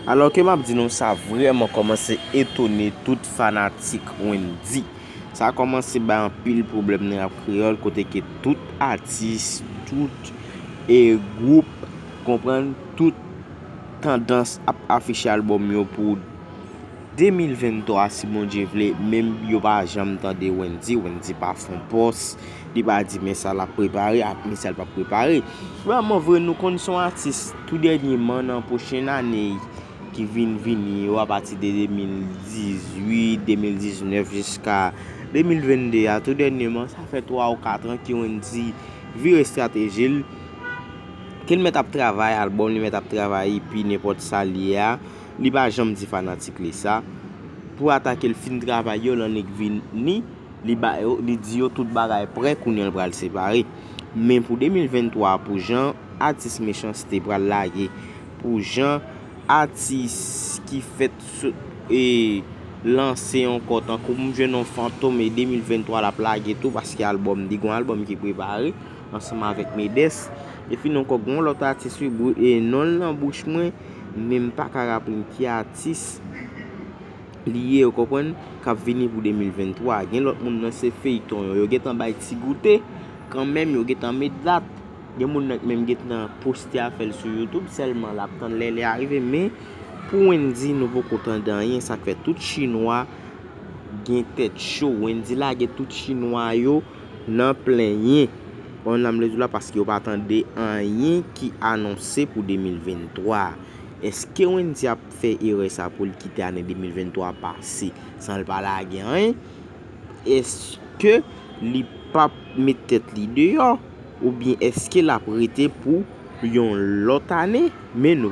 Alò ke map di nou sa vrèman kòmanse etone tout fanatik Wendy. Sa kòmanse bay anpil pwoblèm nan rap kreyòl kote ke tout atis, tout e gwoup, konprann, tout tandans ap afiche albòm yo pou. 2023 si Bondye vle menm yo pa janm tande Wendy, Wendy pa fon pòs, li pa di men sa lap prepare ak men sa li pap prepare. Vrèman vre nou konn son atis tou dènye man nan pwochen ane ki vin vini yo apati de 2018, 2019 jiska 2022 a tou dènye man sa fè 3 ou 4 an ki Wendy vire estratejil kel mèt ap travay albòm li mèt ap travay epi nenpòt sal ye a. Li pa janm di fanatik li sa Pou atake l fin travay yo l annik vini Li ba yo li di yo tout bagay prè kounye l pral separe Men pou 2023 a pou jan atis mechanste pral lage Pou jan atis ki fèt sou e lanse ankò tankou m jwenn yon fantom e 2023 lap lage tou paske album li gon album ki prepare ansanm avèk Medes Efin ankò gon lòt atis wi bro e non l nan bouch mwen Men m paka raple m ki atis li ye ou konprann kap vini pou 2023 gen lòt moun nan se feyton yo yo gentan bay ti goute kanmenm yo gentan met dat gen moun nan ki menm gentan poste afèl sou youtube sèlman lap tann lè li arive men pou Wendy nou poko tande anyen sak fè tout chinwa gen tèt cho Wendy lage tout chinwa yo nan plenyen Onm Lezout la paske yo pa tande anyen ki anonse pou 2023 a. Eske Wendy ap fè erè sa pou l kite ane 2023 a pase san l pa lage anyen? Eske li pap met tèt li deyò? Oubyen eske l ap rete pou yon lòt ane? Men nou.